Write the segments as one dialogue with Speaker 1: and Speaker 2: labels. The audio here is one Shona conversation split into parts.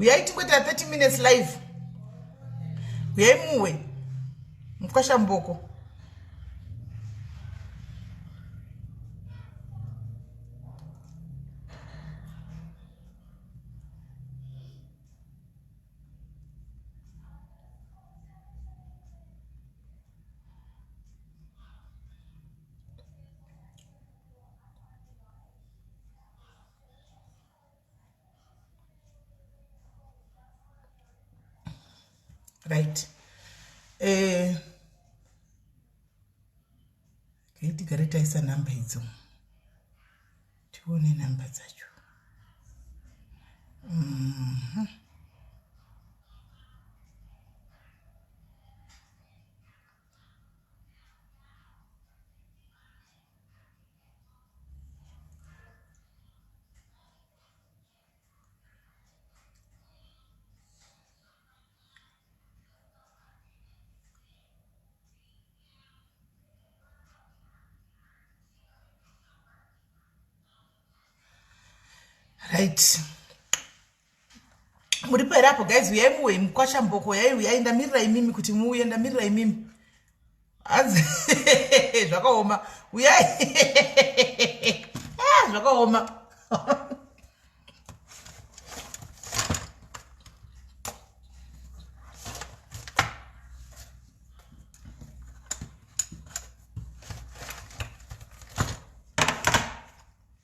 Speaker 1: uyai tingoita 30 minutes live uyai muwe mkwashamboko right eh kaitigare taisa number idzo tione nhamba dzacho mm-hmm. right muripo here apo guys uyai muwe mukwasha mboko yai uyai ndamirira imimi kuti muuye ndamirira imimi hanzi zvakaoma uyai ah, zvakaoma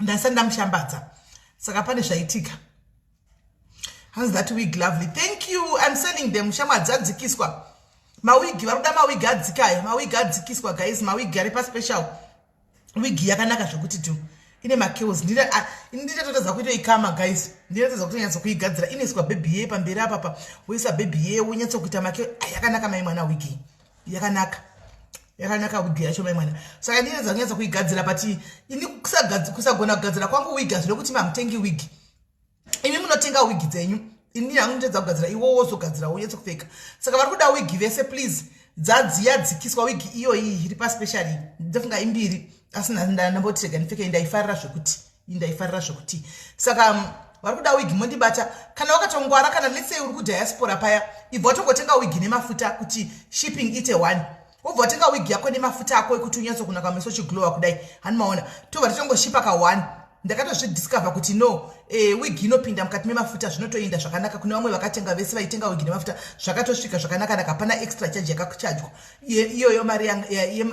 Speaker 1: ndasati ndamushambadza saka pane zvaitika hanzi that wig lovely thank you im selling them shamwa dzadzikiswa mawigi vari kuda mawigi adzikayo mawigi adzikiswa guys mawigi ari paspecial wigi yakanaka zvekuti tu ine makeos nditatotadza kuito ikama guys ndinatadza kuti nyatso kuigadzira inoiswa bhebhi yee pamberi apapa woisa bhebhi yee wonyatso kuita makeo yakanaka mai mwana wigi yakanaka yakanaka wigi yacho mai mwana saka ndinenza kunyatsa kuigadzira but ini kusagona kugadzira kwangu wigi hazvino kuti mamutengi wigi imi munotenga wigi dzenyu ini hangu nditedza kugadzira iwo wozogadzira wonyatsa kupfeka saka vari kuda wigi vese please dzadziya dzikiswa wigi iyoyi iri paspecially ndofunga imbiri asi ndamboti rega ndipfeke ndaifarira zvekuti indaifarira zvekuti saka um, vari kuda wigi mondibata kana wakatongwara kana letsey uri kudiaspora paya ibva watongotenga wigi nemafuta kuti shipping ite one wobva watenga wigi yako nemafuta ako ekuti unyatsokunaka meso chiglowa kudai hani maona tobva titongoshipa ka one ndakatozvidiscover kuti no e, wigi inopinda mukati memafuta zvinotoinda zvakanaka kune vamwe vakatenga vese vaitenga wigi nemafuta zvakatosvika zvakanakanaka hapana extra charge yakakuchajwa iyoyo mari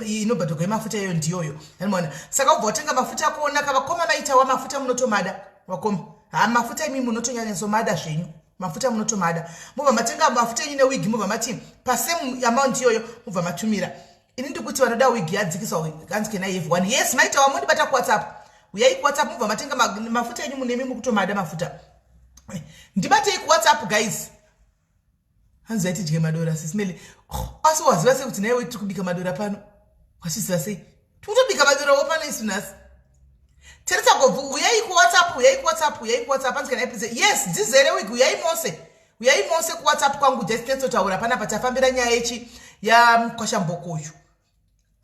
Speaker 1: inobhadhogwa yemafuta iyoyo ndiyoyo animona saka ubva watenga mafuta ako onaka vakoma maitawa mafuta munotomada vakoma ha mafuta imi munotonyanyasomada zvenyu mafuta munotomada mubva matenga mafuta enyu newigi mubva mati pasame amount iyoyo mubva matumira ini ndikuti vanoda wigi yadzikiswa hanzi kena yev one yes maitawa mondibata kuwhatsapp uyai kuwhatsapp mubva matenga mafuta enyu munemi mukutomada mafuta ndibatei kuwhatsapp guys hanzi yatidye madora sismele oh, asi waziva sei kuti naiwe tiri kubika madora pano wachiziva sei tikutobika madora wo pano isu nhasi teresa gobvu uyai kuwhatsapp uyai kuwhatsapp uyai kuwhatsapp hanzi kana ipise yes dzizere wiki uyai mose uyai mose kuwhatsapp kwangu jastnetsotaura pana patafambira nyaya yechi yamukwashamboko uyu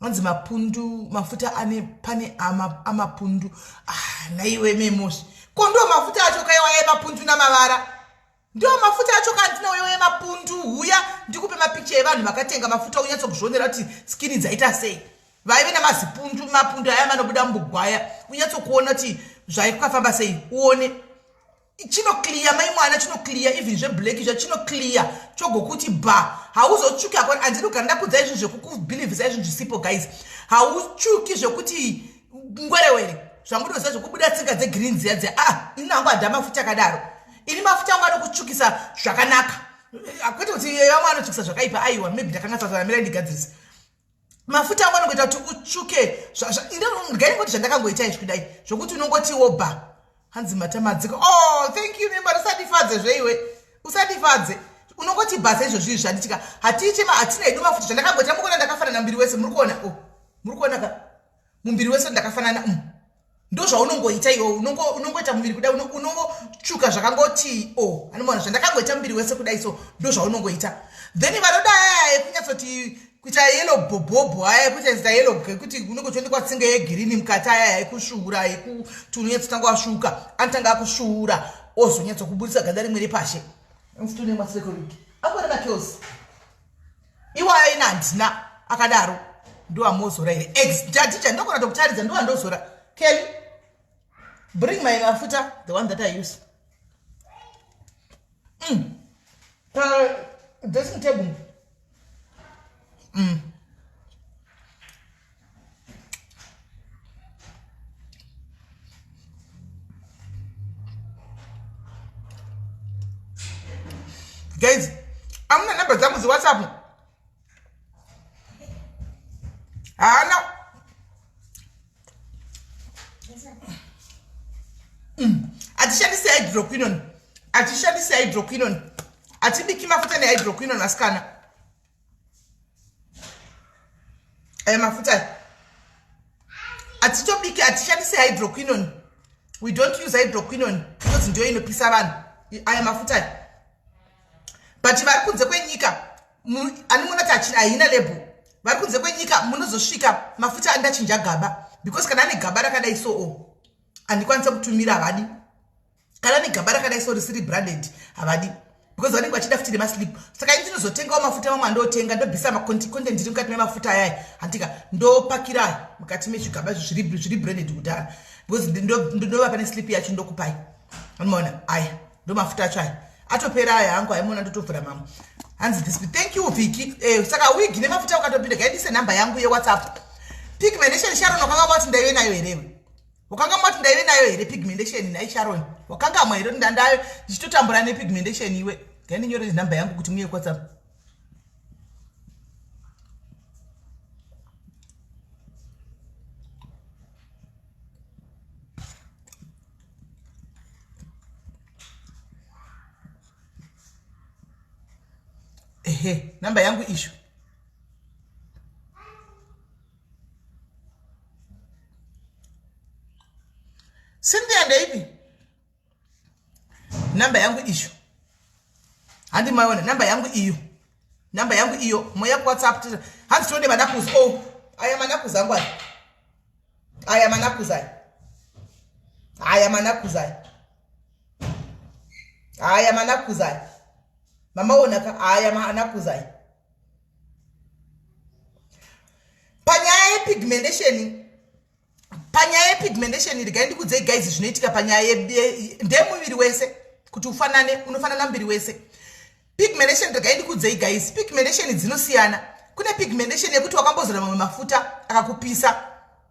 Speaker 1: anzi mapundu mafuta ane pane amapundu ah, naiwe memosi ko ndo mafuta acho kaiwa yemapundu namavara ndiwo mafuta acho kandina uyo yemapundu huya ndikupe mapicha evanhu vakatenga mafuta unyatso kuzvionera kuti skini dzaita sei vaive namazipundu mapundu aya manobuda mubugwaya unyatso kuona kuti zvaikafamba sei uone chinoclear mai mwana chinoclear even zveblack izvo chinoclear chogokuti ba hauzochuki akona andidi kugara ndakudza izvi zvekukubhilivhisa izvi zvisipo guys hauchuki zvekuti ngwerewere zvamunoziva zvekubuda tsinga dzegreen dziya dziya a ah, ini hangu hada mafuta akadaro ini mafuta angu anokutsvukisa zvakanaka kwete kuti vamwe anotsvukisa zvakaipa aiwa maybe ndakanga sazanamira ndigadzirisa mafuta angu anongoita kuti utsvuke ndingai ngoti zvandakangoita izvi kudai zvokuti unongoti woba hanzi matamadziko o oh, thank you nemba usatifadze zveiwe usatifadze unongoti basa izvo zvii zvanditika hatiite hatina hedu mafuta zvandakangoita mukona ndakafanana mbiri wese muri kuona o oh, muri kuona ka mumbiri wese ndakafanana umu ndozvaunongoita iwo unongoita muviri kudai unongotsvuka zvakangoti o oh, anomona zvandakangoita muviri wese kudai so ndozvaunongoita then vanoda aya ekunyatsoti kuita yelo bhobhobho aya ekuita zita yelo ekuti unenge uchionekwa tsinga yegirini mukati aya ekusvuura ekuti unonyatsotanga wasvuuka anotanga akusvuura ozonyatsokubudisa ganda rimwe repashe mfuti unemasrekoriki akorema kills iwayo ina handina akadaro ndoamozora here ex jadija ndokona tokutaridza ndowandozora kelly bring my mafuta the one that i use mm. pa dressing table mm. guys amuna number dzangu dziwhatsapp haana mm. atishandise hydroquinon atishandise hydroquinon atibiki mafuta nehydroquinon asikana aya mafuta aya hatitobiki hatishandise hydroquinon we don't use hydroquinon because ndiyo inopisa vanhu aya mafuta aya but vari kunze kwenyika animoona kuti haina label vari kunze kwenyika munozosvika mafuta andachinja gaba because kana ane gaba rakadai soo handikwanisa kutumira havadi kana negaba rakadai so risiri branded havadi because vanenge vachida futi nemaslip saka ini ndinozotengawo mafuta mamwe andotenga ndobvisa macontent iri mukati memafuta ayai hantika ndopakira mukati mezvigaba zviri branded kudhara because ndinova pane slip yacho ndokupai anomaona aya ndomafuta acho aya atopera aya hangu aimona ndotovhura mamwe hanzi this thank you viki eh, saka wig nemafuta ukatopinda gaidise number yangu yewhatsapp pigmentation sharon wakanga vati ndaive nayo herewe wakanga mwati ndaive nayo here pigmentation nhai sharon wakanga mwa here kuti ndandayo ndichitotambura nepigmentation iwe ngaindinyore nhamba yangu kuti muye kwatsapp ehe namba yangu ishu Cynthia ndeipi namba yangu iyo handi maiona namba yangu iyo namba yangu iyo moya kuwhatsapp hanzi tode manakuzi o oh, aya manakuzi angu aya aya manakuzi aya aya manakuzi aya aya manakuzi aya mamaonaka aya manakuzi aya panyaya yepigmentation panyaya yepigmentation regai ndikudzei gaizi zvinoitika panyaya ndemuviri wese kuti ufanane unofanana muviri wese pigmentation regai ndikudzei gaizi pigmentation dzinosiyana kune pigmentation yekuti wakambozora mamwe mafuta akakupisa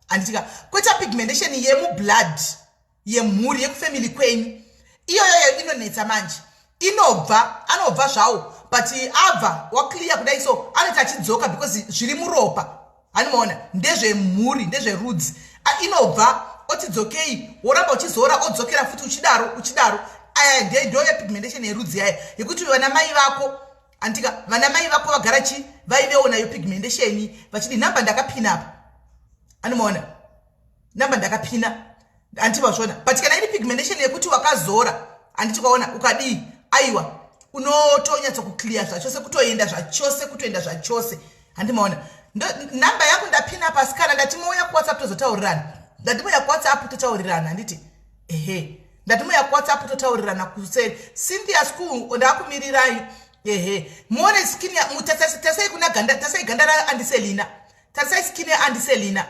Speaker 1: handitika kweta pigmentation yemublood yemhuri yekufamily kwenyu iyoyoyo inonetsa manje inobva anobva zvawo but abva waclear kudai so anoita achidzoka because zviri muropa hanimaona ndezvemhuri ndezverudzi inobva otidzokei woramba uchizora odzokera futi uchidaro uchidaro aya nde ndo yepigmentation yerudzi yaya yekuti vana mai vako andika vana mai vako vagara chi vaivewo nayo pigmentation vachidi nhamba ndakapinapa hanimaona namba ndakapina handiti vazvona but kana iri pigmentation yekuti wakazora handiti kwaona ukadii aiwa unotonyatsa kuclear zvachose kutoenda zvachose kutoenda zvachose handimaona namba yangu ndapina pasi kana ndatimouya kuwhatsapp tozotaurirana ndatimouya kuwhatsapp totaurirana handiti ehe ndatimouya kuwhatsapp totaurirana kuseri cynthia school ndakumirirai ehe muone skin tarisai kuna ganda tarisai ganda raandiselina tarisai skin yaandiselina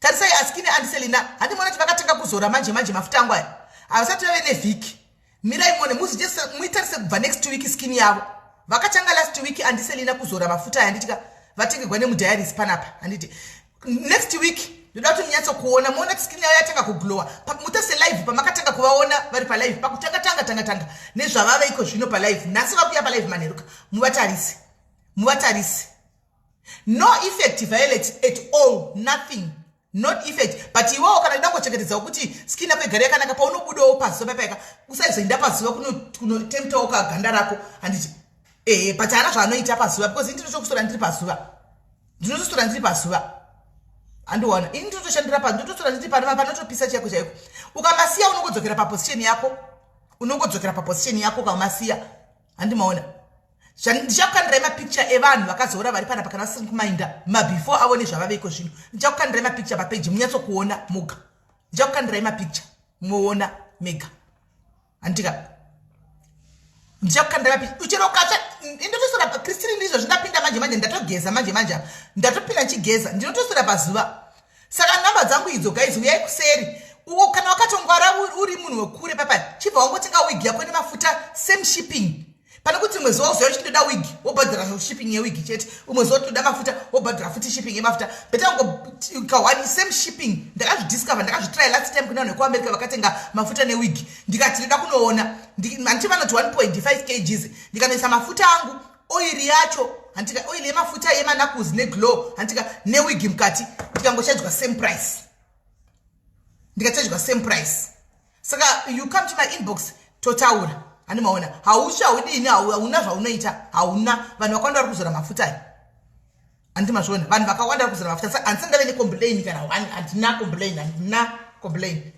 Speaker 1: tarisai askine andiselina handimona kuti vakatanga kuzora manje manje mafuta angu aya havasati vave nevhiki mirai mone muitarise kubva next week skin yavo vakatanga last week andiselina kuzora mafuta aya anditika vatengegwa nemudiaries panapa handiti next week ndoda kuti munyatso kuona moona kuti skin yavo yatanga kuglowa mutase live pamakatanga kuvaona vari palive pakutanga tanga tanga tanga nezvavave iko zvino palive nhasi vakuya palive manheruka muvatarise muvatarise no effect violet at all nothing not effect but iwewo kana ida kungochengetedzawo kuti skin yako igare yakanaka paunobudawo pazuva paipaika usaizoinda pazuva kunotemtawo kuno kaganda rako handiti ehe but haana zvaanoita pazuva because ini ndinotokusora ndiri pazuva ndinotosora ndiri pazuva handiona ini ndinotoshandira pa ndinotosora ndiri panova panotopisa chaiko chaiko ukamasiya unongodzokera paposition yako unongodzokera paposition yako ukamasiya handi maona ndichakukandirai mapicture evanhu vakazoora vari panapa kana vasiri kumainda mabefore avo nezvavaveiko zvino ndichakukandirai mapicture papeji munyatsokuona moga ndichakukandirai mapicture moona mega handika ndichakukandirai mapicture uchero ukatsva ndinotosora pakristirindi izvozvi ndapinda manje manje ndatogeza manje manje apa ndatopinda ndichigeza ndinotosora pazuva saka nhamba dzangu idzo guys uyai kuseri uko kana wakatongwara uri munhu wekure papa chibva wangotenga wigi yako nemafuta same shipping pane kuti umwe zuva uziva uchitoda wigi wobhadhara shipping yewigi chete umwe zuva tinoda mafuta wobhadhara futi shipping yemafuta beta ngokawani same shipping ndakazvidiscover ndakazvitry last time kune vanhu vekuamerica vakatenga mafuta newigi ndikati ndoda kunoona handichi vanoti 1.5 kgs ndikanoisa mafuta angu oiri yacho handika oiri yemafuta yemanakuzi neglow handika newigi mukati ndikangochajwa same price ndikachajwa same price saka you come to my inbox totaura handi maona hausi haudini hauna zvaunoita hauna vanhu vakawanda vari kuzora mafuta ayo handi mazviona vanhu vakawanda vari kuzora mafuta sa handisa ndave necomplain kana one handina complain handina complain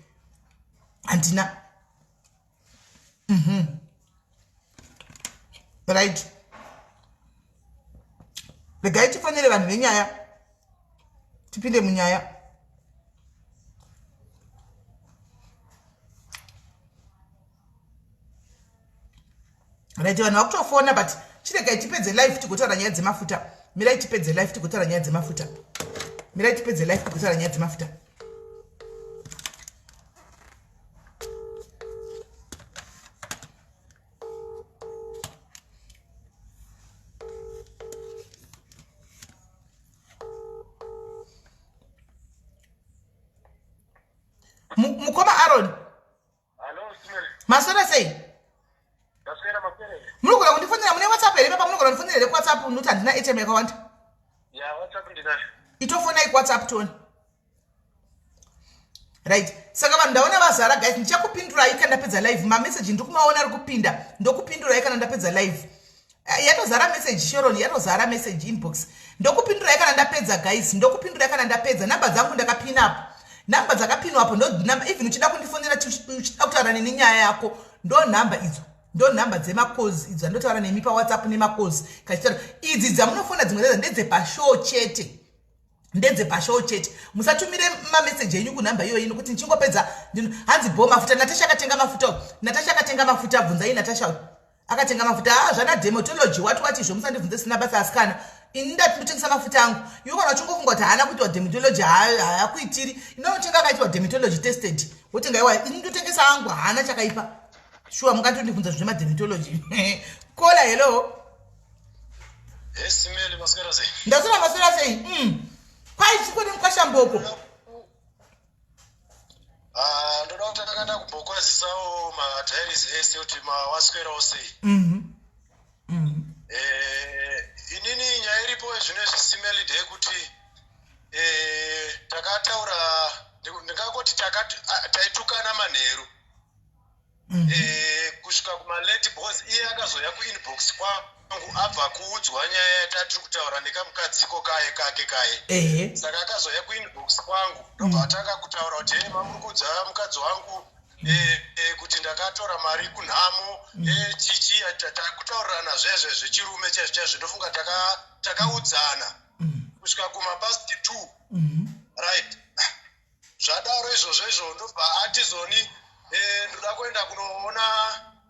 Speaker 1: handina mm -hmm. right regai tifonere vanhu venyaya tipinde munyaya right vanhu vakutofona but chiregai tipedze life tigotaura nyaya dzemafuta mirai tipedze life tigotaura nyaya dzemafuta mirai tipedze life tigotaura nyaya dzemafuta mukoma aron
Speaker 2: maswera sei
Speaker 1: munogona kundifonera mune whatsapp here papa munogona kundifonera here kuwhatsapp nokuti handina atm yakawanda
Speaker 2: itofonai kuwhatsapp
Speaker 1: toni right saka vanhu ndaona vazara guys ndichakupindurai kana ndapedza live mameseji ndikumaona ari kupinda ndokupindurai kana ndapedza live eh, yatozara meseji sharon yatozara meseji inbox ndokupindurai kana ndapedza guys ndokupindurai kana ndapedza namba dzangu ndakapinapo namba dzakapinwapo ndonamba even uchida kundifonera uchida kutaura neni nyaya yako ndo namba idzo ndo nhamba dzemacalls idzo andotaura nemi pawhatsapp nemacalls kachitaura idzi dzamunofona dzimwe dzadzo ndedzepashow chete ndedze pashow chete musatumire mameseji enyu kunhamba iyoyi nokuti ndichingopedza hanzi bho mafuta natasha akatenga mafuta uyu natasha akatenga mafuta bvunzai natasha uyu akatenga mafuta haa ah, zvana dematology wati wati izvo musandibvunze sina basa asikana ini ndati ndotengesa mafuta angu iwe kana uchingofunga kuti haana kuitwa dematology haakuitiri inonotenga akaitwa dematology tested wotenga iwa ini ndotengesa angu haana chakaipa shuwa mungatondibvunza zvine madematology kola hello
Speaker 2: ndasina maswera sei mm.
Speaker 1: kwai chikwene mukwashamboko
Speaker 2: ah, ndoda kuti ndakaenda kumbokwazisawo matairisi ese kuti mawaswerawo sei mhm. Mhm. Eh, inini nyaya iripo zvino zvisimelid yekuti eh, takataura ndingangoti taitukana manheru mm. eh, kusvika kumalate bcause iye akazouya kuinbox kwangu abva kuudzwa nyaya yatatiri kutaura nekamukadziko kaye kake kaye saka akazouya kuinbox kwangu ndobva mm. atanga kutaura kuti hei mamuri kuudza mukadzi wangu Eh, eh, kuti ndakatora mari kunhamo mm. eh, chichi takutaurirana zvezve zvechirume chaizvo chaizvo ndofunga takaudzana mm. kusvika kumapast two mm-hmm. right zvadaro izvozvo izvo ndobva ati zoni eh, ndoda kuenda kunoona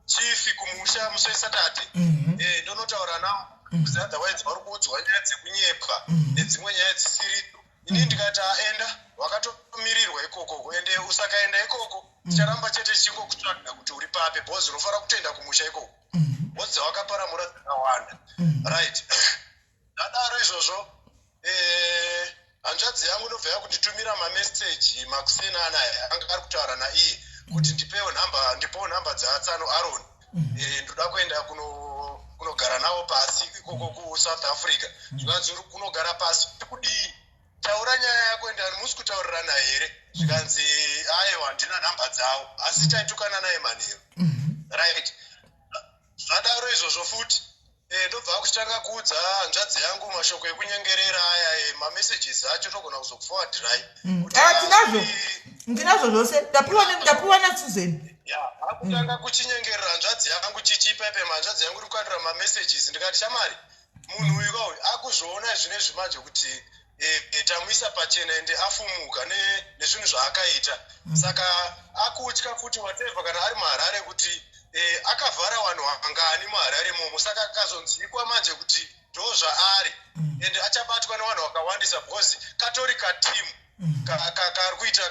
Speaker 2: chifi kumusha musi wesatade mhm. eh, ndonotaura nawo kuzi mhm. otherwise vari kuudzwa nyaya dzekunyepa mhm. nedzimwe nyaya dzisiridzo ini ndikati aenda wakatomirirwa ikoko ende usakaenda ikoko ticharamba chete tichingokutsvaga kuti uri papi bhozi unofanira kutoenda kumusha ikoko bhozi dzawakaparamura dzakawanda right ndadaro izvozvo eh, hanzvadzi yangu ndobva yakunditumira mameseji makuseni anaya anga ari kutaura naiye kuti mm. ndipewo nhamba ndipewo nhamba dzaatsano aron mm. eh, ndoda kuenda kuno kunogara navo pasi ikoko kusouth africa mm. zvikanzi uri kunogara pasi kudii taura nyaya yako enda musi kutaurirana here zvikanzi ayewa handina nhamba dzavo asi taitukana naye manheru right zvadaro izvozvo futi Eh, ndobva akuchitanga kuudza hanzvadzi yangu mashoko ekunyengerera aya eh, mamessages acho togona kuzokufowadhirai mm. ah, tinazvo
Speaker 1: ndinazvo zvose ndapiwa nasuzeni akutanga mm.
Speaker 2: kuchinyengerera hanzvadzi yangu chichipa ipe hanzvadzi yangu iri kukandira mamessages ndikati chamari munhu uyu kauyu akuzviona zvine zvimanje kuti eh, eh, tamuisa pachena ende afumuka nezvinhu zvaakaita mm. saka akutya kuti wateva kana ari muharare kuti eh, akavhara vanhu angani muharare momo saka akazonzikwa manje kuti ndo zvaari mm. ende achabatwa nevanhu vakawandisa because katori katimu mm. kari kuita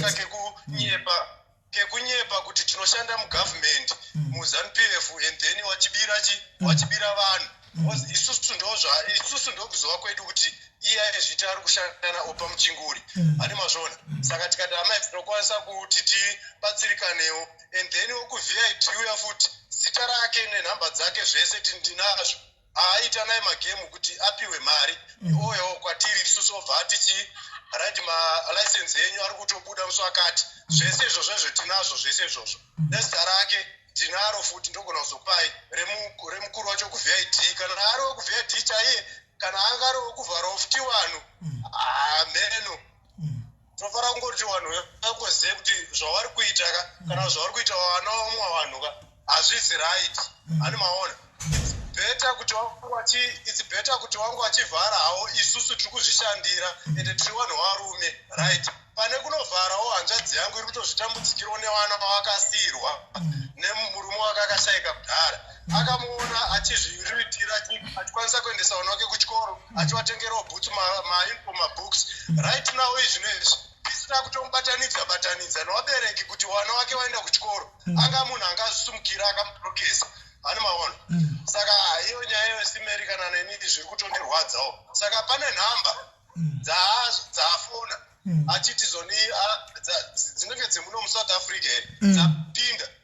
Speaker 2: kakekunyeba kekunyepa kuti tinoshanda mugovernment mm. muzanupf and then wachibira chi mm. wachibira vanhu mm. isusu ndozva isusu ndokuzova kwedu kuti iya ezviti ari kushanda naopa muchinguri ane mazvona saka tikati amai tinokwanisa kuti tibatsirikanewo and then wokuvip uya futi zita rake nenhamba dzake zvese tindinazvo aita naye magemu kuti apiwe mari mm. oyo kwatiri isusu obva atichi right malicense enyu ari kutobuda musi wakati zvese izvozvo izvo tinazvo zvese izvozvo mm. nezita rake tinaro futi ndogona kuzopai remukuru wacho kuvid kana ari wekuvid chaiye kana anga ari wekuvhara ofti wanu hameno mm. tinofana kungoti vanhu vakozive kuti zvavari kuita ka kana zvavari kuita vana vamwe vanhu ka hazvizi right mm. ani maona better kuti wanguachi its better kuti wangu achivhara hawo isusu tiri kuzvishandira ende tiri vanhu varume right pane kunovharawo hanzvadzi yangu iri kutozvitambudzikirawo nevana vavakasiyirwa nemurume wake akashayika kudhara akamuona achizviruitira achikwanisa kuendesa vana vake kuchikoro achivatengerawo bhutsu mainfo mabooks right now izvino izvi tisina kutomubatanidza batanidza nevabereki kuti vana vake vaenda kuchikoro mm. anga munhu anga azvisumukira akamuprokesa hani maona mm. saka iyo nyaya yosimeri kana neni zviri kutondirwadzawo saka pane nhamba mm. dzaafona achiti zoni dzinenge dzemuno musouth africa here dzapinda mm.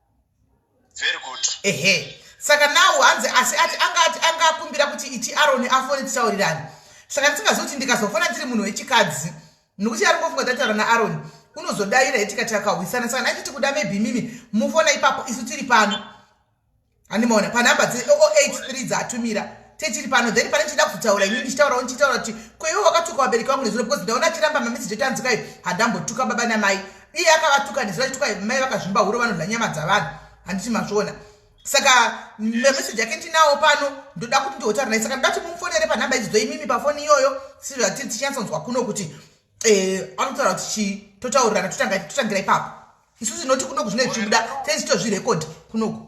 Speaker 2: very good ehe saka
Speaker 1: nawo hanzi asi ati anga ati anga akumbira kuti iti aroni afone tisaurirani saka ndisingazivi kuti ndikazofona ndiri munhu wechikadzi nokuti ari ngofunga tataura naaroni unozodaira hetikati akahwisana saka nai titi kuda maybe mimi mufona ipapo isu tiri pano handimaona panhamba dze083 dzaatumira tetiri pano then pane chida kuzotaura inini ndichitaurawo ndichitaura kuti kweiwo wakatuka vabereki vangu nezuro because ndaona achiramba mamisi jetanzikai handambotuka baba namai iye akavatuka nesu vachituka mai vakazvimba huro vanodla nyama dzavanhu handiti mazviona saka memeseji yake ndinawo pano ndoda kuti ndihotaura naye saka ndoda kuti mumufonere panhamba idzidzo imimi pafoni iyoyo sivatiri tichinyatsonzwa kuno kuti eh, anotaura kuti chii totaurirana totangira ipapo isu tinoti kunoku zvine zvichibuda tezitozvirekodi kunoku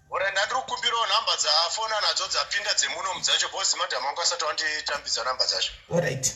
Speaker 2: ore ndandiri kukumbirawo nhamba dzafona nadzo dzapinda dzemunomu dzacho bcause madam angu asati wanditambidza nhamba dzacho orit right.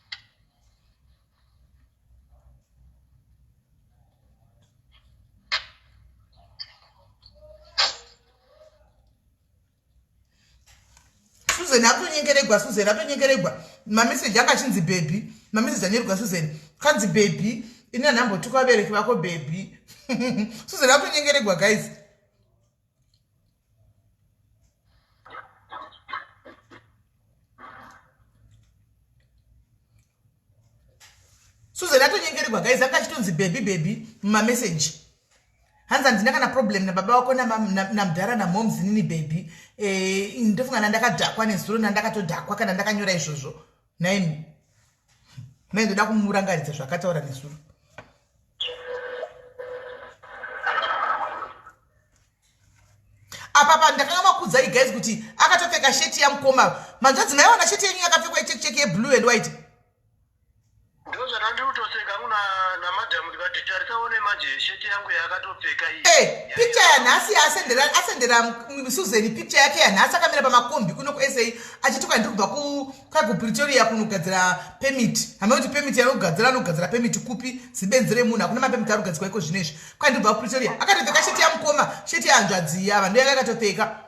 Speaker 1: susan atonyengeregwa susan atonyengeregwa mameseji anga achinzi bhebhi mameseji anyeregwa susan kanzi bhebhi ini anambotuka vabereki vako bhebhi susan atonyengeregwa guys susan atonyengererwa guys anga achitonzi bebi bebi mumameseji hanzi handina kana problem nababa wako namdhara namoms nini bebi eh, ndofunga nandakadhakwa nezuro nandakatodhakwa kana ndakanyora izvozvo nhaimi mai ndoda kumurangaridza zvakataura nezuro apapa ndakanga makudza igais kuti akatopfeka sheti yamukoma manzvadzi maiona sheti yenyu yakapfekwa ichekcheki yeblue and white ndozvatandikutoseka kuna namadam ndikati tarisa one manje sheti yangu yakatopfeka iyi hey, eh, picture yanhasi asendera asendera susan picture yake yanhasi akamira pamakombi kuno kusa achituka ndiri kubva kwakupretoria kunogadzira pemit hamea kuti pemit yanogadzira anogadzira pemit kupi zibenzi remunhu hakuna mapemit anogadzirwa iko zvino izvi kwandiri kubva kupretoria akatopfeka sheti yamukoma sheti yanzvadziya vanhu yake akatopfeka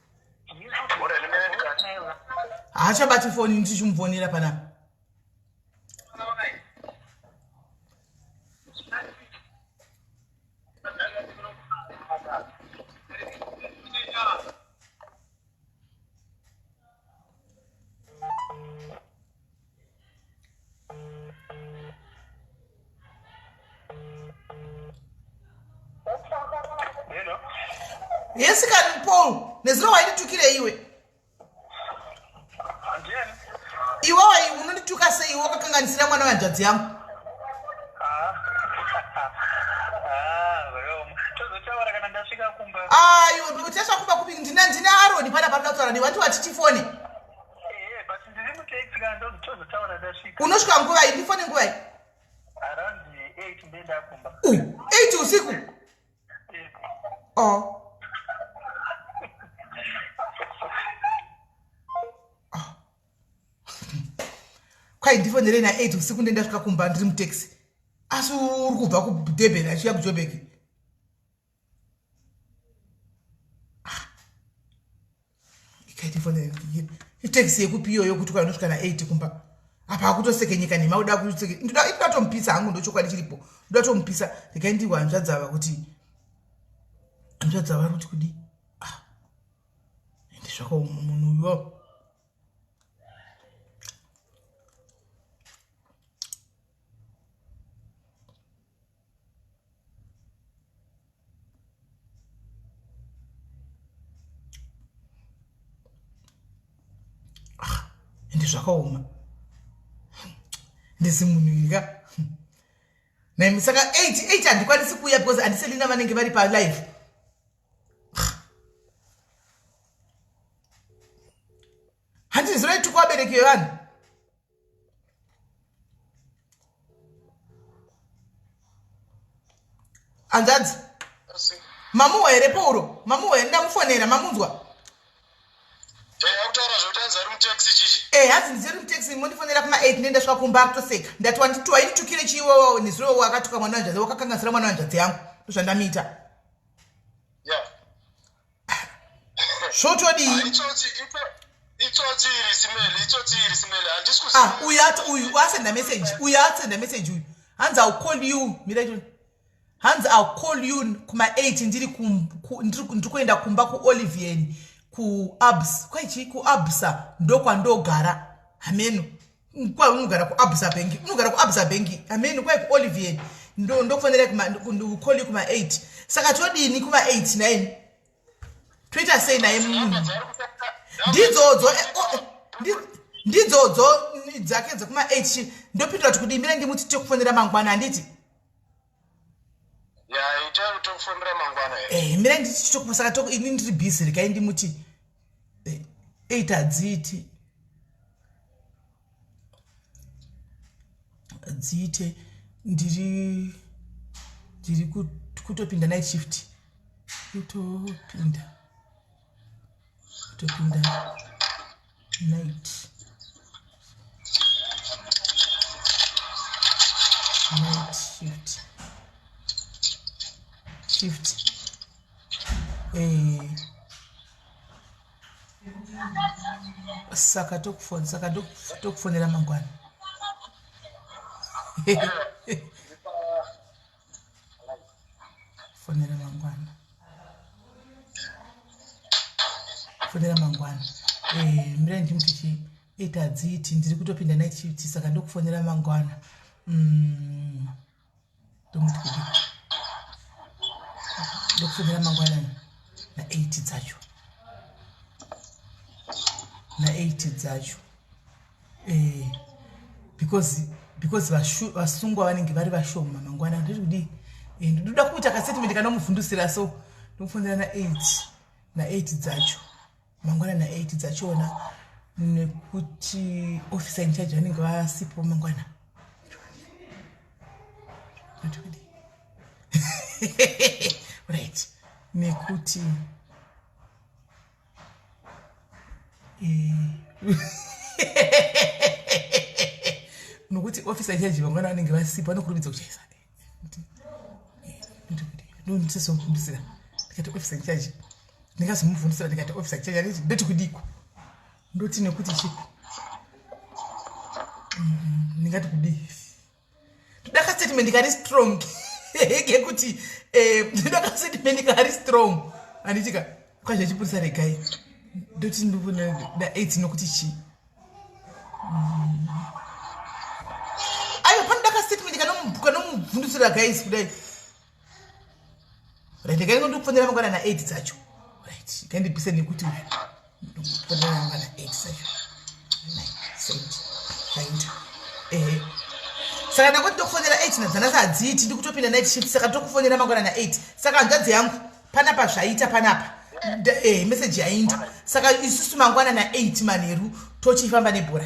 Speaker 1: haachabati foni ini tichimufonera panapa yesikani paul nezuro wainditukire iwe iwewe unondituka sei iwe wakakanganisira mwana wehanzvadzi yangu ayo uchasvakumba kupi ndina ndina aroni pana panoda kutaura newe wati wati tifone unosvika nguva iyi ndifone nguva iyi uh, eight usiku oh. kwai ndifonere na eight usiku nde ndasvika kumba ndiri mutaxi asi uri kubva kudurban achiuya kujobeki itaxi yekupi iyoyo kuti kwanosvika na 8 kumba apa akutosekenyeka nhema uda kuseke ndoda tomupisa hangu ndochokwadi chiripo ndoda tomupisa rekai ndihwa hanzvadzava kuti hanzvadzava kuti kudii zvako munhu uyo ende zvakaoma ndisi munhu ini ka naimi saka eight eight handikwanisi kuuya because handiselina vanenge vari palive handizinoituko vabereki vevanhu hanzvadzi mamuwa here pauro mamuwa here ndamufonera mamunzwa akutaura zvekuti anzi ari mutaxi chichi e hanzi ndiziri mutaxi mondifonera kuma 8 nenda svika kumba akutoseka ndati wanditi wainitukire chiiwowo nezuro wakatuka mwana wanzvadzi wakakanganisira mwana wanzvadzi yangu ndozvandamuita zvotodii ah, ah, uyu uyu asenda message uyu asenda message uyu hanzi ill call you mira icho hanzi ill call you kuma 8 ndiri ndiri kuenda kumba kuolivian kuabs kwaichii kuabsa ndokwandogara hameno kwai unogara kuabsa bengi unogara kuabsa bengi amen kwai kuolivier ndokufanira kukoli kuma 8 saka todini kuma 8 naye toita sei naye munhu ndidzodzo eh, oh, eh, ndidzodzo dzake dzekuma 8 ndopindura kuti kudimira ndimuti tekufonera mangwana handiti
Speaker 2: Eh, mira ndichitokusaka
Speaker 1: toko ini ndiri busy rekai ndimuti eh, eight hadziiti dziite ndiri ndiri kutopinda night shift kutopinda topinda night night shift shift eh saka tokufona saka tokufonera mangwana fonera mangwana fonera mangwana eh, mirai ndimuti chii iti hadziiti ndiri kutopinda night shift saka ndokufonera mangwana mm. ndomuti kuti ndokufonera mangwana na8 dzacho na8 dzacho eh, because because vasungwa vanenge vari vashoma mangwana ndiri kudii eh, ndoda kuita kasetimende kanomuvhundusira so ndokufonera na eight na eight dzacho mangwana na eight dzachona nekuti officer in charge vanenge vasipo mangwana right nekuti nokuti ofisa ichadyiva mwana vanenge vasipo vanokurumidza kuchaisa ndondisazokumbisira ndikati ofisa ichaji ndingazomubvundisira ndikati ofisa ichaji aniti ndoti kudiko ndoti nekuti chiko mm-hmm. ndingati kudii ndoda kastatement kari strong kekuti eh, ndoda kastatement kari strong handitika kwazve chipurisa regai ndoti ndoda aids nokuti chii mm. aiwa panoda kastatement kanomubvundusira guys kudai right kaingo ndikufonera mangwana na 8 dzacho right kaindipise nekuti ndikufonera mangwana 8 dzacho right eh saka ndakuti ndokufonera 8 nadzana sadziiti ndikutopinda night shift saka ndokufonera mangwana na 8 saka hanzvadzi yangu panapa zvaita panapa eh message yainda saka isusu mangwana na 8 manheru tochifamba nebhora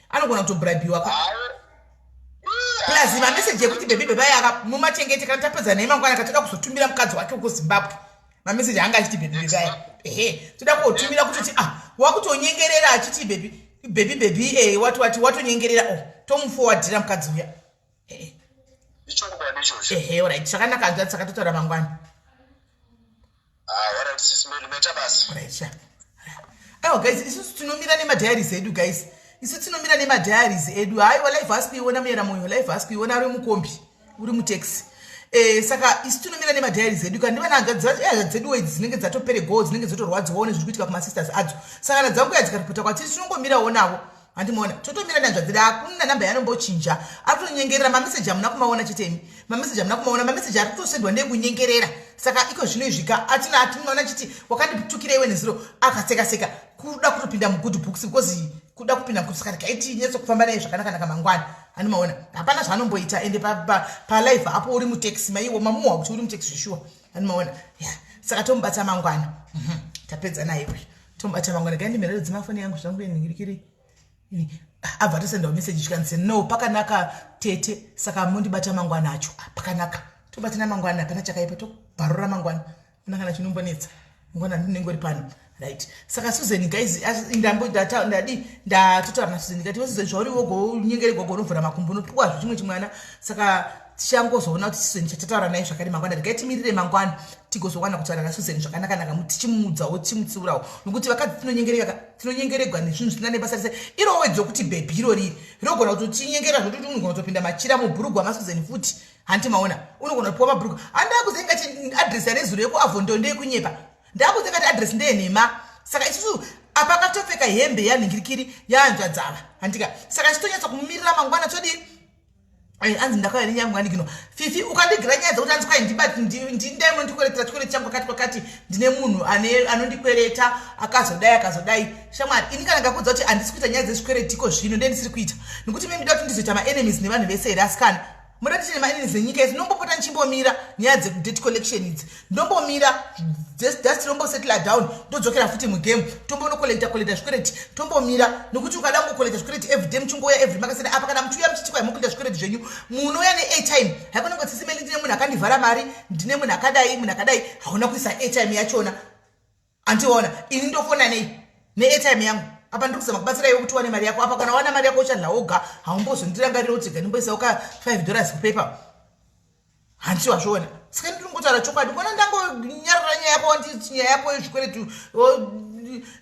Speaker 1: anogona kutobribhiwa ka plus mameseji ekuti bebi beba yaka mumachengete kana tapedza nei mangwana ka toda kuzotumira mukadzi wake uko zimbabwe mameseji anga achiti bebi beba ya ehe toda kuotumira kutoti ah wakutonyengerera achiti bebi bebi bebi e eh, wati wati watonyengerera o oh, tomufowadhira mukadzi uya ichokwadi ichocho ehe orit saka ndakanzwa saka totaura mangwana ah, orit sismeli meta basi orit sha aiwa oh, guys isusu tinomira nemadiaries edu guys isu tinomira nemadiaries edu haiwa life hasi kuiona muyera moyo life hasi kuiona uri mukombi uri mutaxi Eh, saka isu tinomira nemadhayari zedu kana ndivana hanzvadzi dzedu wedzi dzinenge dzatopere goo dzinenge dzotorwadziwawo nezviri kuitika kumasisters adzo saka nadzanguya dzikaripota kwatiri tinongomirawo navo handimona totomira ndanzvadzi daakuna namba yanombochinja ari kutonyengerera mameseji amuna kumaona chitemi mameseji amuna kumaona mameseji ari kutosendwa nekunyengerera saka iko zvino izvika atina atinoona chiti wakanditukira iwe neziro akaseka seka kuda kutopinda mugood books because kuda kupinda mugood saka tikaiti nyetso kufamba naye zvakanaka naka mangwana handimaona hapana zvaanomboita ende palive pa, pa apo uri mutaxi maiwo mamuwa kuti uri mutaxi zveshuwa handimaona yeah. saka tomubata mangwana mm -hmm. tapedza naye uyu Tombata mangwana gani mirero dzemafoni yangu zvangu yenhingirikiri ini abva atosendawo meseji chikanzi no pakanaka tete saka mondibata mangwana acho ah, pakanaka tobatana mangwana hapana chakaipa tobharura mangwana kuna kana chinombonetsa mangwana ndinenge uri pano right saka suzeni guys ndambodadii ndatotaura nasuzen ndikati wesuzen zvauri wogo unyengere gogo unovhura makumbo unopiwa zvichimwe chimwana saka tichangozoona kuti susan chatotaura naye zvakare mangwana regai timirire mangwana tigozowana kutaura nasusan zvakanakanaka mu tichimuudzawo tichimutsiurawo nokuti vakadzi tinonyengereka tinonyengeregwa nezvinhu zvisina nebasa rese irowo wedzo kuti bhebhi iro riri rinogona kuti tinyengera zvokuti unogona kutopinda machira mubhurugwa masusan futi hanti maona unogona kupiwa mabhurugwa handakuze ingati adress yarezuro yekuavhondo ndeyekunyepa ndakuze ingati adress ndeyenhema saka isusu apa akatopfeka hembe yanhingirikiri yaanzvadzava handika saka chitonyatsa kumumirira mangwana todii Eh, anzi ndakauya nenyamwanikino fifi ukandigira nyaya dzekuti anzi kwai ndindaimwe ndikweretera chikwere changu kwakati kwakati ndine munhu anondikwereta akazodai akazodai shamwari ini kana ndakudza kuti handisi kuita nyaya dzezvikweretiko zvino nde ndisiri kuita nekuti me ndida kuti ndizoita maenemies nevanhu vese here asikana muda kuti nemaanemies nenyika yese ndinombopota ndichimbomira nyaya dzedate collection idzi ndombomira just rombosettle down ndodzokera futi mugame tombonokolekta kolekta zvikwereti tombomira nokuti ukada kungokolekta zvikwereti everyday muchingouya every makasana apa kana muchiuya muchitikwa yemokolekta zvikwereti zvenyu munouya neatime haikona kuti sisi meni ndine munhu akandivhara mari ndine munhu akadai munhu akadai hauna kuisa atime yachona antiona ini ndofona nei neairtime yangu apa ndiri kuzama kubatsira iwe kuti wane mari yako apa kana wana mari yako uchadla woga haumbozondirangarira kuti ga ndimboisawo ka five dollars kupaper hanti wazviona saka ndiri ngotaura chokwadi kona ndangonyarara nyaya yako wanditi nyaya yako yezvikweretu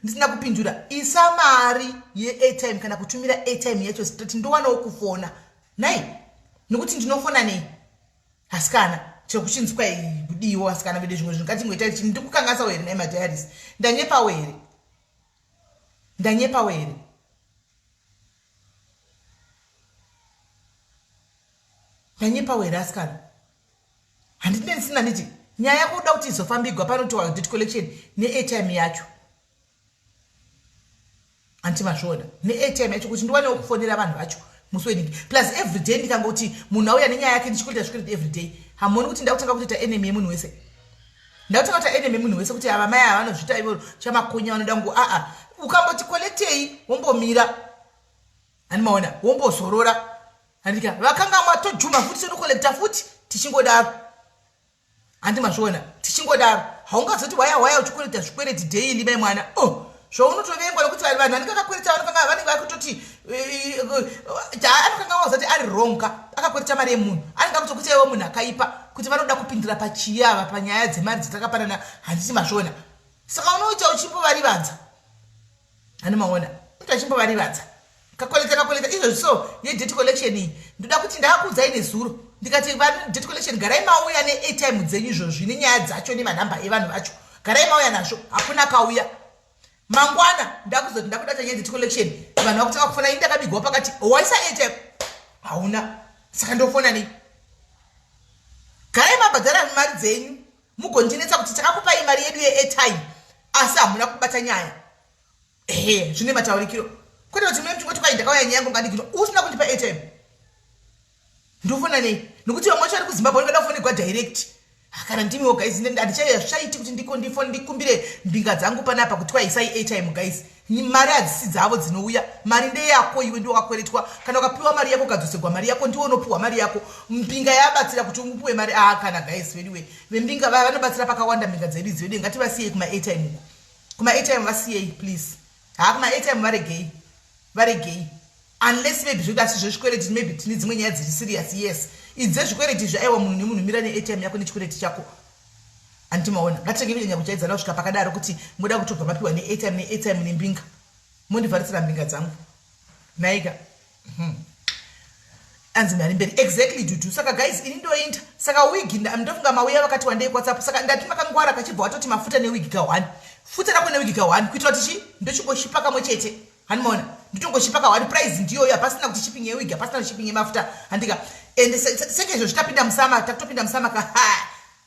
Speaker 1: ndisina kupindura isa mari yeairtime kana kutumira airtime yacho zitati ndowanawo kufona nai nekuti ndinofona nei asikana chekuchinzwa kudiiwo asikana vede zvimwe zvinhu ngatingoita ichi ndikukangasawo here naye madiaris ndanyepawo here ndanyepawo here ndanyepawo here asikana handine ndisina nditi nyaya yako uda kuti izofambigwa panotiwa debt collection neatime yacho hanti mazviona neatm yacho kuti ndiwanewo kufonera vanhu vacho musi weningi plus everyday ndikangoti munhu auya nenyaya yake ndichikuita zvikuriti everyday hamoni kuti ndakutanga kutoita enemy yemunhu wese ndakutanga kuita enemy yemunhu wese kuti ava mai ava vanozviita ivo chamakonya vanoda ngo aa ukamboti kolektei wombomira ani maona wombozorora andika vakanga mwatojuma futi sonokolekta futi tichingodaro handi mazviona tichingodaro haungazoti waya waya uchikwereta zvikwereti daily mai mwana o oh, zvaunotovengwa nokuti vanhu vanhu vanenge vakakwereta vanokanga vanenge vakutoti eh, eh, anokanga wazati ari wrong ka akakwereta mari yemunhu anenge akutokuti iwe munhu akaipa kuti vanoda kupindira pachiyi ava panyaya dzemari dzatakapanana handiti mazviona saka unoita uchimbovarivadza anomaona mntu achimbovarivadza kakoleta kakoleta izvozvi so yedet collection iyi ndoda kuti ndaakuudzai nezuro ndikati vadet collection garai mauya neatime dzenyu izvozvi nenyaya dzacho nemanhamba evanhu vacho garai mauya nazvo hakuna akauya mangwana ndakuzoti ndakuda kuti nyedet collection vanhu vakutanga kufona ini ndakabigwa pakati waisa atime hauna saka ndofona nei garai mabhadhara mari dzenyu mugondiretsa kuti takakupai mari yedu yeairtime asi hamuna kubata nyaya ehe zvine mataurikiro kwete kuti mune mtingoti kwai ndakauya nyaya yangu ngandikino usina kundipa airtime ndofona nei nokuti vamwe vacho vari kuzimbabwe vanoda kufonegwa direct kana ndimiwo guys handichaiya zvichaiti kuti ndiko ndifone ndikumbire mbinga dzangu panapa kuti kwaisai airtime guys Mari hadzisi dzavo dzinouya mari ndeyako iwe ndiwo wakweretwa kana ukapiwa mari yako ukadzosegwa mari yako ndiwo unopiwa mari yako mbinga yabatsira kuti upiwe mari aa kana guys veduwe vembinga vaya vanobatsira pakawanda mbinga dzedu idzi veduwe ngativasiyei kumaatm uko kumaatm vasiyei please haa kumaatm varegei varegei unless maybe zvekuti asi zvezvikwereti maybe tine dzimwe nyaya dziri serious yes idze zvikwereti izvi aiwa munhu nemunhu mira neatm yako nechikwereti chako handiti maona ngatitenge kunyanya kuchaidzana kusvika pakadaro kuti moda kutobva mapiwa neatm neatm nembinga mondivharisira mbinga dzangu naika hmm. anzi mari mberi exactly dudu saka guys ini ndoinda saka wigi ndofunga mauya vakati wandei whatsapp saka ndati makangwara kachibva watoti mafuta newigi ka one futa rako newigi ka one kuitira kuti chi ndochingoshipa kamwe chete handimaona nditongochipa kawani prize ndiyoyo hapasina kuti shipping yewig hapasina kuti shipping yemafuta handika and senge izvo zvichitapinda musama takutopinda musama ka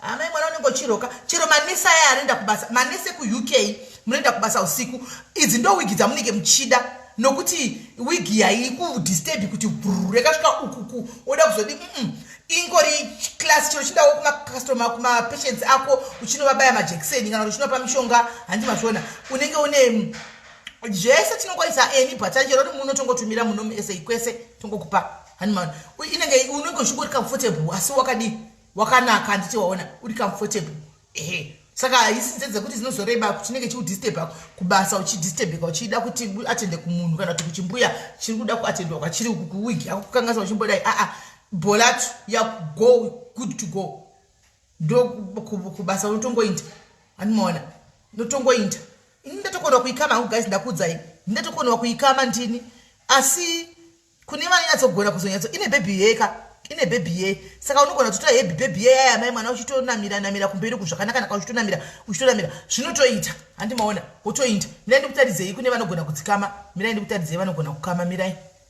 Speaker 1: amai mwana unenge uchiroka chero manesi aya anoenda kubasa manesi ekuuk munoenda kubasa usiku idzi ndo wigi dzamunenge muchida nokuti wigi yaikudisturbi kuti brr yakasvika ukuku oda kuzodi mm ingori class chero chidawo kumacustomer kumapatients ako uchinovabaya majekiseni kana kuti uchinova pamishonga handi mazviona unenge une zvese tinokwanisa eni bhata chero ri muno tongotumira muno musa kwese tongokupa hanimana inenge unenge uchingo uri comfortable asi wakadii wakanaka handiti waona uri comfortable ehe saka haisi nze dzekuti zinozoreba kutinenge chiudisturba kubasa uchidisturbeka uchida kuti atende kumunhu kana kuti kuchimbuya chiri kuda kuatendwa kwachiri kuwigi yako kukanganisa uchimbodai aa bholatu yago good to go ndo kubasa unotongoinda andimaona ndotongoinda ini ndatokonewa kuikama hangu guys ndakuudzai ndatokonewa kuikama ndini asi kune vanonyatsogona kuzonyatso ine bhebhi yeka ine bhebhi yei saka unogona kutotora hebhi bhebhi yei aya mai mwana uchitonamira namira kumberi uku zvakanaka naka uchitonamira uchitonamira zvinotoita handimaona wotoinda mirai ndikutaridzei kune vanogona kudzikama mirai ndikutaridzei vanogona kukama mirai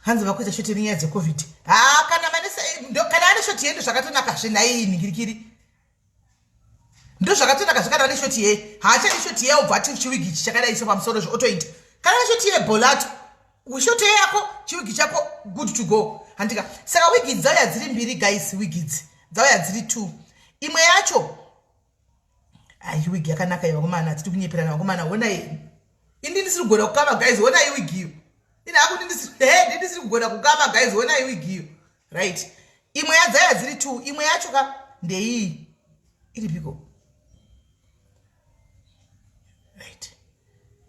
Speaker 1: hanzi vakuita shoti nenyaya dzecovid haa kana kana ane shoti yei ndozvakatonaka zve nhaiyi nhingirikiri ndozvakatonaka zve kana ane shoti yei haachadi shoti yei obva ati chiwigi chi chakadai so pamusoro zve otoita kana ane shoti yei bolato shoto yako chiwigi chako good to go handika saka wigi dzauya dziri mbiri guys wigi dzi dzauya dziri two imwe yacho ayi ah, wig yakanaka ye vakomana titi kunyeperana vakomana honai ini ndisiri kugona kukama guys honai wig iyo ini hakuti ndisiri ndisiri kugona kukama guys honai wig iyo right imwe yadzaya dziri two imwe yacho ka ndeiyi iripiko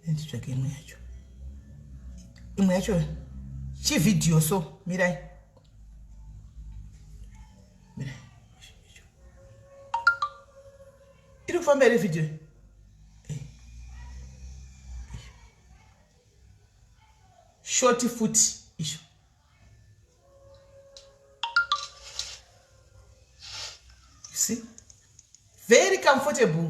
Speaker 1: nditsvake imwe yacho imwe yacho chivhidhiyo so mirai mirai iri kufamba here vhidhiyo eh. shoti futi izvo see very comfortable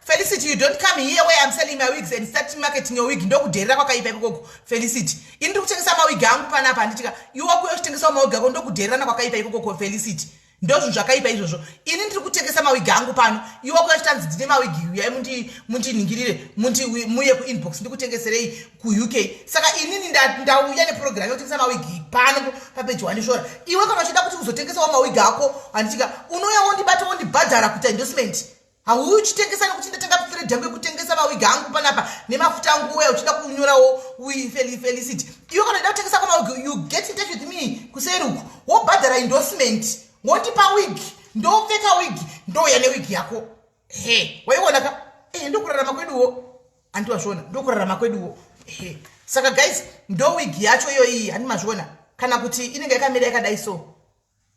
Speaker 1: felicity you don't come here where im selling my wigs and start marketing your wig ndokudherera kwakaipa ikokoko felicity ini ndiri kutengesa mawig angu panapa handitika iwe wakuya uchitengesawo mawig ako ndokudhererana kwakaipa ikokoko felicity ndozvinhu zvakaipa izvozvo ini ndiri kutengesa mawigi angu pano iwe kuya chitanzi ndine mawigi uyai mundinhingirire muye kuinbox ndikutengeserei kuuk saka inini ndauya neprogramu yekutengesa mawigi pano papeji wandishora iwe kana uchida kuti uzotengesawo mawigi ako handitika unouya wondibata wondibhadhara kuita endorsement hauyi uchitengesa nekuti ndatenga pfred yangu yekutengesa mawigi angu panapa nemafuta angu uya uchida kunyorawo felicity iwe kana ida kutengesa kwamawigi you get in touch with me kuseri uku wobhadhara endorsement wondipa wigi ndopfeka wigi ndouya newigi yako he waiona ka ehe ndokurarama kweduwo andi wazviona ndokurarama kweduwo ehe saka guys ndowigi yacho iyoiyi handi mazviona kana kuti inenge yakamira yakadai so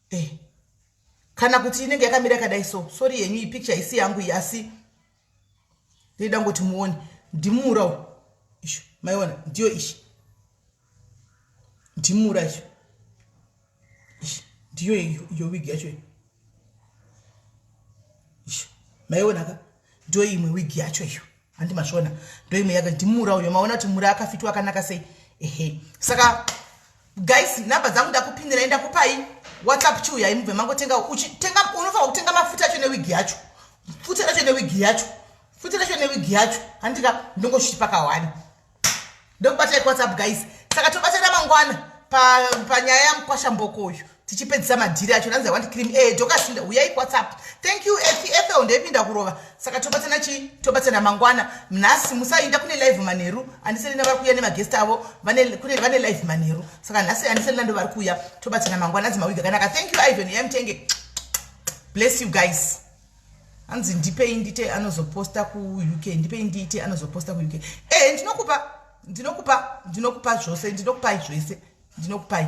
Speaker 1: eh. kana kuti inenge yakamira yakadai so sori yenyu iyi picture isi yangu iyi asi ndoida ngoti muone ndimuurawo isho maiona ndiyo ishi ndimuura isho ndiyo iyo wigi yacho iyo isho maiona ka ndo imwe wig yacho iyo handi masvona ndo imwe yake ndimura uyo maona kuti mura akafitwa akanaka sei ehe saka guys number dzangu ndakupindirai ndakupai whatsapp chiuyai mubve mangotenga uchitenga unofanira kutenga mafuta acho newig yacho futa racho newig yacho futa racho newig yacho handika ndongochiti pakawani ndokubata ekuwhatsapp guys saka tobatana mangwana panyaya pa yamukwasha mboko uyu tichipedzisa madhiri acho nanzi iwant cream e dokasinda huyai kuwhatsapp thank you ethi ethel ndoipinda kurova saka tobatana chii tobatana mangwana nhasi musainda kune live manheru andiselina vari kuuya nemagest avo vane live manheru saka nhasi andiselina ndo vari kuuya tobatana mangwana anzi mawiga kanaka thank you ivan yamtenge bless you guys hanzi ndipei ndite anozoposta kuuk ndipei ndiite anozoposta kuuk e eh, ndinokupa ndinokupa ndinokupa zvose ndinokupai zvese ndinokupai